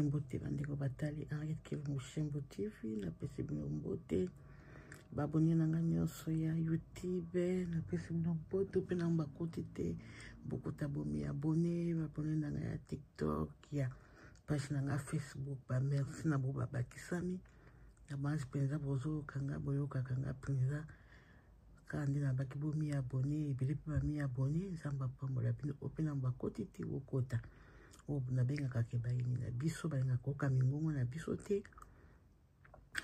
Mbote bandeko batali Henriette Kilumushinbu TV napesi bino mbote babone na nga nyonso ya youtube napesi bino mbote mpe na bakoti te bokuta bomi abone babone na nga ya tiktok ya page na nga facebook bamerci na bo babakisami na banzi mpenza bozoyoka nga boyokaka nga mpenza kaka nde na baki bo mi abonne ebele mpe ba mi abonne nzambe apambola bino oyo mpe na bakoti te bokota oyo nabengaka ke bayini na biso balingaka koyoka mingongo na biso te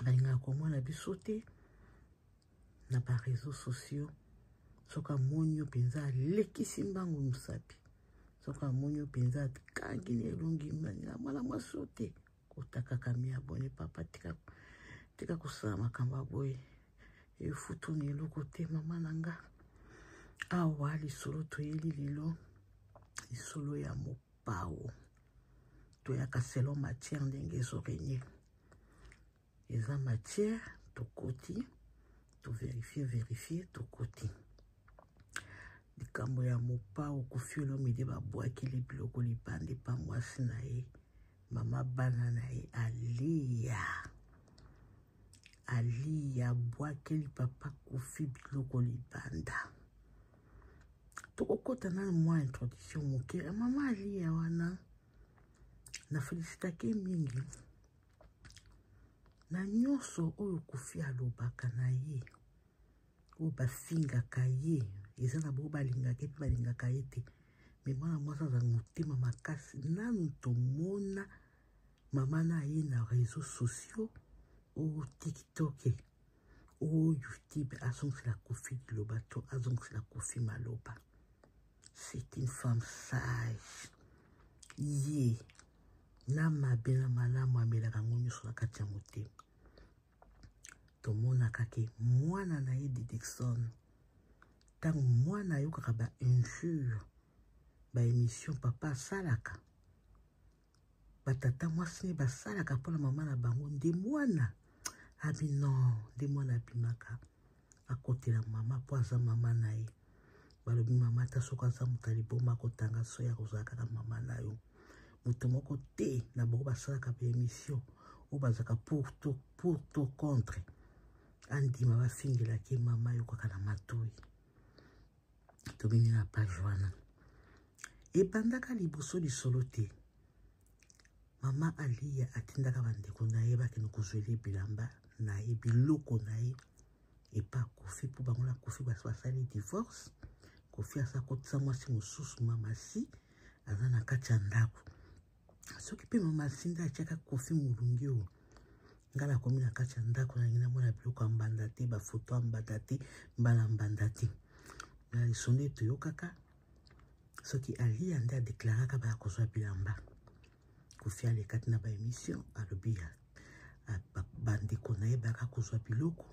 balingaka komona biso te na bareseau sociaux soki amoni yo mpenza alekisi mbangu mosapi soki amoni yo mpenza akangi na elongi mwana mwasi yo te kotakaka mi abone papa tika tika kosala makambo ya boye efutu na eloko te mama na nga awa lisolo toyeli lelo lisolo ya mopao toyaka selon matière ndenge ezorenye eza matière tokoti toverifie verifie tokoti likambo ya mopao kofiolomide babwakeli biloko libanda epa mwasi na ye Mama bana na ye aliya aliya abwakeli papa kofi biloko libanda tokokɔta na mwa introduction moke ya mama aliya wana na felisitake mingi na nyonso oyo kofi alobaka na ye oyo bafingaka ye eza na bo balingaka ye mpe balingaka ye te me mwana mwasi aza motema makasi nanu tomona mama na ye na réseau sociaux o tiktoke o youtube azongisela kofi liloba to azongisela kofi maloba c'est une femme sage ye na mabe na malamu amelaka yango nyonso na kati ya motema tomonaka ke mwana na ye didikson ntango mwana ayokaka ba injure ba émission papa asalaka batata mwasi ne basalaka mpo na mama na bango nde mwana abi non nde mwana abimaka akotela mama mpo aza mama na ye balobi mama ata soki aza moto ya liboma akotanga soki akozala kaka mama na yo moto moko te na bango basalaka baemission oyo bazalaka pour to pour to contre andima bafingelaki ye mama yokaka na matoi tobimi na page wana ebandaka liboso lisolo te mama aliya atindaka bandeko na ye bakende kozwela ye bilamba na ye biloko na ye epa kofi mpo bango na kofi basi basali divorce kofi asa kotisa mwasi mosusu mamasi aza na kati ya ndako soki mpe mamasi nde atyaka kofi molungi oyo ngai nakomi na kati ya ndako nangi namona biloko ya mbanda te bafoto ya mbanda te mbala mbanda te na lisolo etoyokaka soki aliya nde adeklaraka baya kozwa bilamba kofi alekati na baemission alobi ya bandeko na ye bayaka kozwa biloko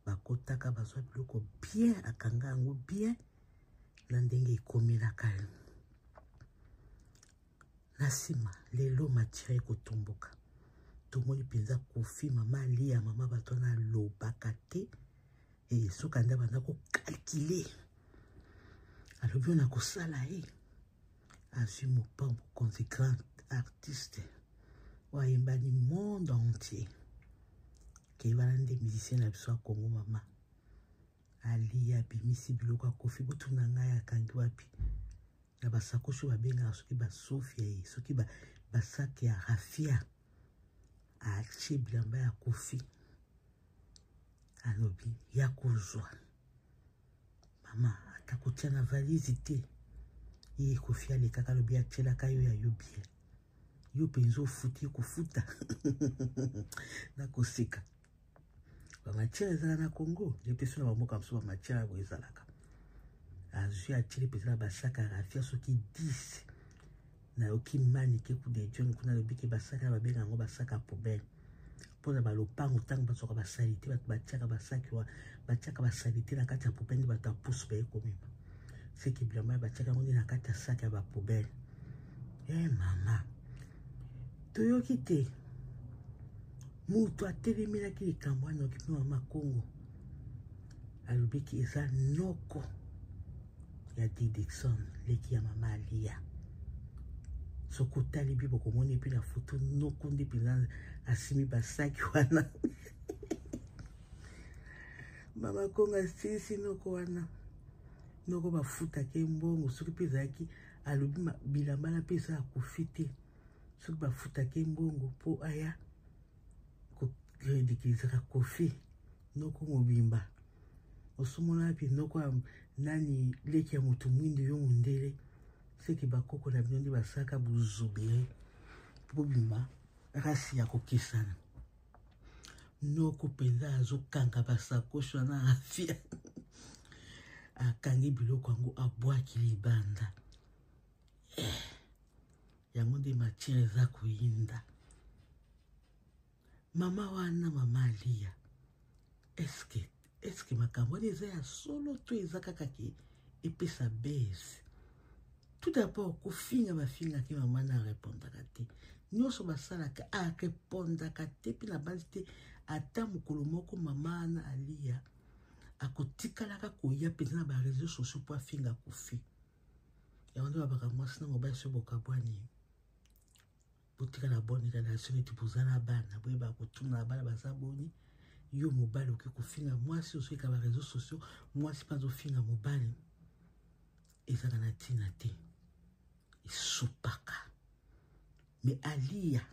bakotaka bazwa biloko bien akanga yango bien na ndenge ekomelaka ye na nsima lelo matire ekotomboka tomoni mpenza kofi mama aliya mama bato wana alobaka te e suka nde abanda kokalkile alobi oyo nakosala ye eh. azwi mopango konzi grand artiste oyo ayembani monde entier kei wana nde musicien na biso ya kongo mama aliya abimisi biloko ya kofi botuna ngai akangi wapi na basakoshi babengaka soki basofia ye soki basaki ya rafia atie bilamba ya kofi alobi ya kozwa mama ata kotya na valise te ye kofi alekaka alobi atyelaka yo ya yo bien yo mpenza ofuti kofuta nakoseka bamatiere ezala na congo ye mpe so na bamboka mosusu bamatiere yango ezalaka azwi atyeli mpenza na basaka rafia soki 10 nayoki mani ke ku de john kuna alobi ke basaka ya babenga yango basaka ya poubele mpo na balopango ntango bazwaka basalite bato batiaka basaki wa batiaka basalite na kati ya poubele nde bato ya pusu baye komema seki bilamba ya batiaka yango nde na kati ya saki ya bapoubele e eh, mama toyoki te moto atelemelaki likambo wana okipe mama kongo alobiki eza noko ya didikson leki ya mama aliya soki otali bi bokomoni epi na foto noko nde mpenza asimi basaki wana mama kongo asilisi noko wana noko bafutaki mbongo soki mpe ezalaki alobi bilambala mpe eza akufi te soki bafutaka ye mbongo mpo aya koridikilisaka kofi noko mobimba osomona wapi noko nani leki ya moto mwindu yo mondele seke bakoko na bino nde basalaka bozobele bobima rasi ya kokesana noko mpenza azokanga basakoshi wana afia akangi biloko yango abwaki libanda eh, yango nde matière eza koyinda mama wana mama aliya eske eske makambo wana eza ya solo to eza kaka ke epesa base tout d'abord kofinga bafingaki mama na arepondaka te nyonso basalaka arepondaka te mpe na basi te ata mokolo moko mama na aliya akotikalaka koya mpenza na bareseau sociaux mpo afinga kofi yango nde babaka mwasi na mobali soki bokabwani botikala boni kala soki neti boza na bana boyeba kotuna na bana baza boni yo mobali okoki kofinga mwasi ozoyika ba réseau sociaux mwasi mpe azofinga mobali ezaka na ntina te esopaka me aliya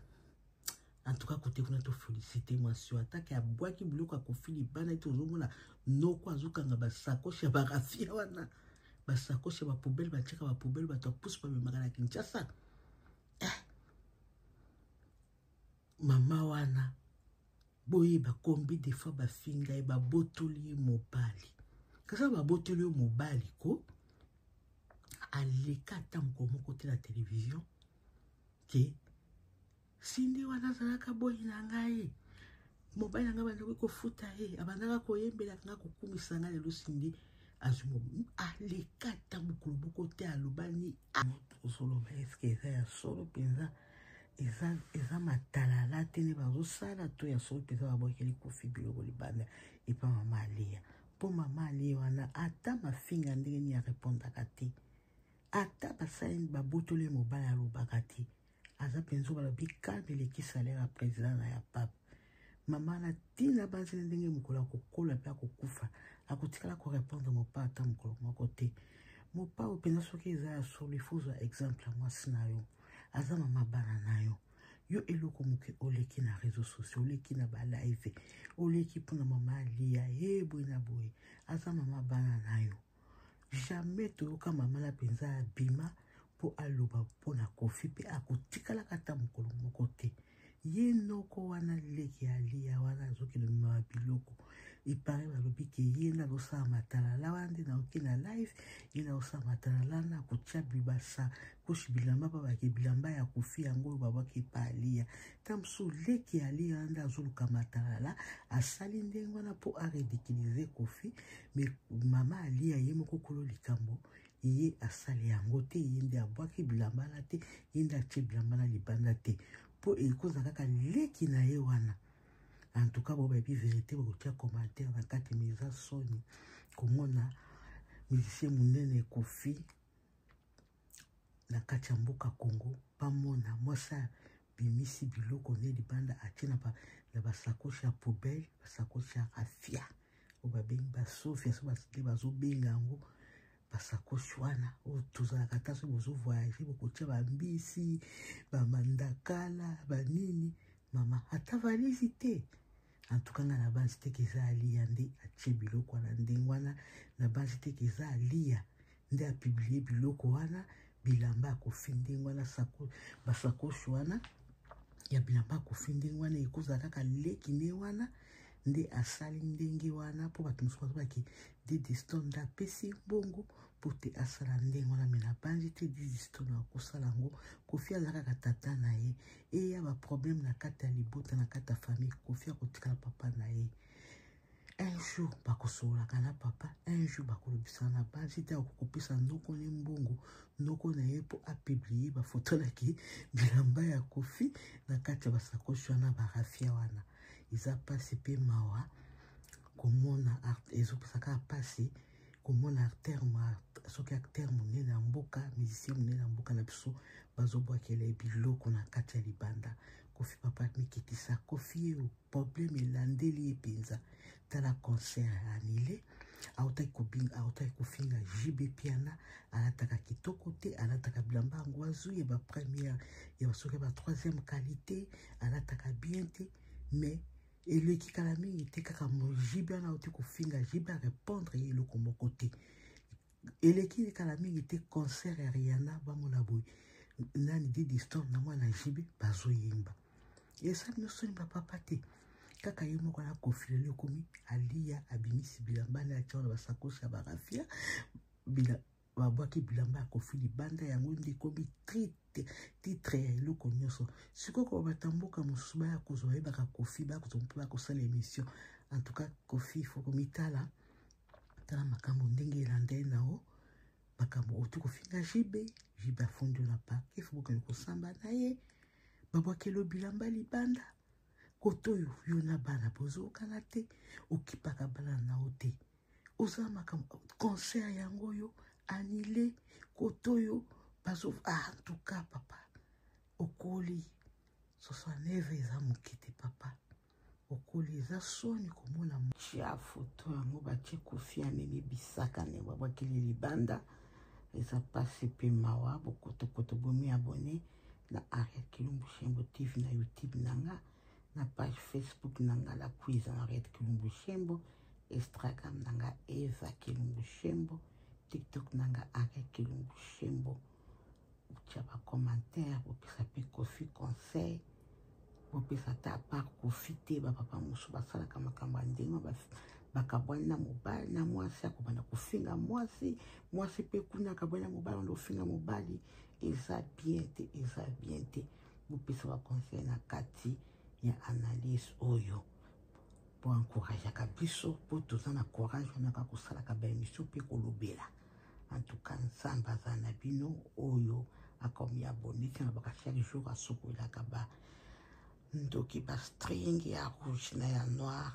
en tout cas kote kuna tofelicite mwasi oyo atake abwaki biloko ya kofi libanda ete ozomona noko azokanga basakoshi ya barafia wana basakoshi ya bapoubele batyaka bapoubele bato ya pusu bamemaka na kinshasa eh. mama wana boyeba kombi de fois bafinga ye babotoli ye mobali kasa babotoli yo mobali ko aleka ata mokolo moko te na televizio ke sindi wana azalaka boyi na ngai mobali na ngai bandaki kofuta ye abandaka koyembelaka ngai kokumisa ngai lelo sindi azwi aleka ata mokolo moko te alobani ozoloba eske eza ya solo mpenza eza, eza matalala te nde bazosala to ya solo mpenza babwakeli kofi biloko libanda epa mama aliya mpo mama aliya wana ata mafinga ndenge nini arepondaka te ata basali babotoli ye mobali alobaka te aza mpenza balobi calme eleki salaire ya president na ya pape mama na ntina banzeli ndenge mokolo akokola mpe akokufa akotikala korepondre mopa ata mokolo moko te mopa oyo mpenza soki eza ya solo ifo ozwa exemple ya mwasi na yo aza mama bana na yo yo eloko moke oleki na réseau sociaux oleki na balive oleki mpona mama aliya ye boye na boye aza mama bana na yo jamais toyoka mama na mpenza abima mpo aloba mpo na kofi mpe akotikalaka ata mokolo moko te ye noko wana leki aliya wana azokende mema biloko epare balobi ke ye nde azosala matalala wana nde naoki na live ye nde azosala matalala na kotya bibasa koshi bilamba babake bilamba ya kofi yango oyo babwaki epa aliya ta mosusu leki ya lia nde azoluka matalala asali ndenge wana mpo aredikilize kofi me mama alia ye moko kolo likambo ye asali yango te ye nde abwaki bilamba na te ye nde atie bilamba na libanda te mpo ekozala kaka leki na ye wana en tout cas bobayebi verité bokotia commentaire na kati me eza soni komona musicien monene kofi na kati ya mboka Congo bamona mwasi abimisi biloko ne libanda atie na ba, na basakoshi ya poubelle basakoshi ya rafia oyo babengi basofia so basike bazobenga yango basakoshi wana oyo tozalaka ata soki bozovoyage bokotia bambisi bamandakala banini mama ata valisi te en tout cas nga na base te ke eza aliya nde atie biloko wana ndenge wana na base te ke eza aliya nde apiblie biloko wana bilamba ya kofi ndenge wana basakoshi wana ya bilamba ya kofi ndenge wana ekozala kaka leki nde wana nde asali ndenge wana mpo bato mosusu bazobaki didistone nde apesi mbongo mpo te asala ndenge wana me nabanzi te dizisto na kosala yango kofi aza kaka tata na ye eya baproblème na kati ya libota na kati ya famille kofi akotikala papa na ye un jour bakosololaka na papa un jour bakolobisana na basi te akokopesa noko ne mbongo noko na ye mpo apiblie bafoto naki bilamba ya kofi na kati ya basakoshi wana barafia wana eza mpasi mpe mawa komona ezopesa kaka mpasi komona acteur soki acteur monene ya mboka musicien monene ya mboka na biso bazobwakela ye biloko na kati ya libanda kofi papa mikitisa kofi yo problème elandeli ye mpenza tala concert ya anile autaki kobinga autaki kofinga jb piana alataka kitoko te alataka bilamba yango azwi ya bapremière ya basoki ya batroisième qualité alataka bien te mais eleki kala mingi te kaka mojibe wana auti kofinga jibe arépondre ye eloko moko te eleki kala mingi te concert ya riana bamona boye nani didi storm na mwana jibe bazoyemba esali nosoni bapapa te kaka ye moko na kofilele ekomi aliya abimisi bilamba na atya wana basakosi ya barafia babwaki bilamba ya kofi libanda yango nde ekomi trite titre ya eloko nyonso sikoyo koba batamboka mosusu baya kozwa bayebaka kofi baya kozwa mpe baya kosala émission en tout cas kofi ifo komitala tala makambo ndenge elanda ye na o makambo otu kofinga jibe jibe afundi yo na parke ifo bokende kosamba na ye babwakelo bilamba libanda koto oyo yo na bana bozokana te okipaka bana na yo te oza makambo concert yango oyo anile kote oyo bazo ah, en tout cas papa okoli 69 eza moke te papa okoli eza soni komona cia foto yango batie kofi amemi bisaka ne babwakeli libanda eza mpasi mpe mawa bokotokoto bomi abone na ariel kilumbu shembo tv na youtube na nga na page facebook na nga la cuise henriette kilumbu shembo Instagram na nga Eva Kilungu Shembo, TikTok na nga Aka Kilungu Shembo. Botya ba commentaire, bopesa mpe Koffi conseil, bopesa ata par Koffi te ba papa mosusu basalaka makambo ya ndenge bakabwani na mobali na mwasi akobanda kofinga mwasi mwasi mpe kuna akabwani na mobali anda ofinga mobali eza bien te eza bien te bopesa baconseil na kati ya analyse oyo po encourageaka biso po toza na courage wana kaka kosalaka baemission mpe kolobela en tout cas nzambe azala na bino oyo akomi abonne te nalobaka chaque jour asukolelaka ba ndoki ba string ya rouge na ya noir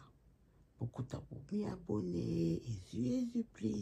bokuta bomi abonne ezu ezu please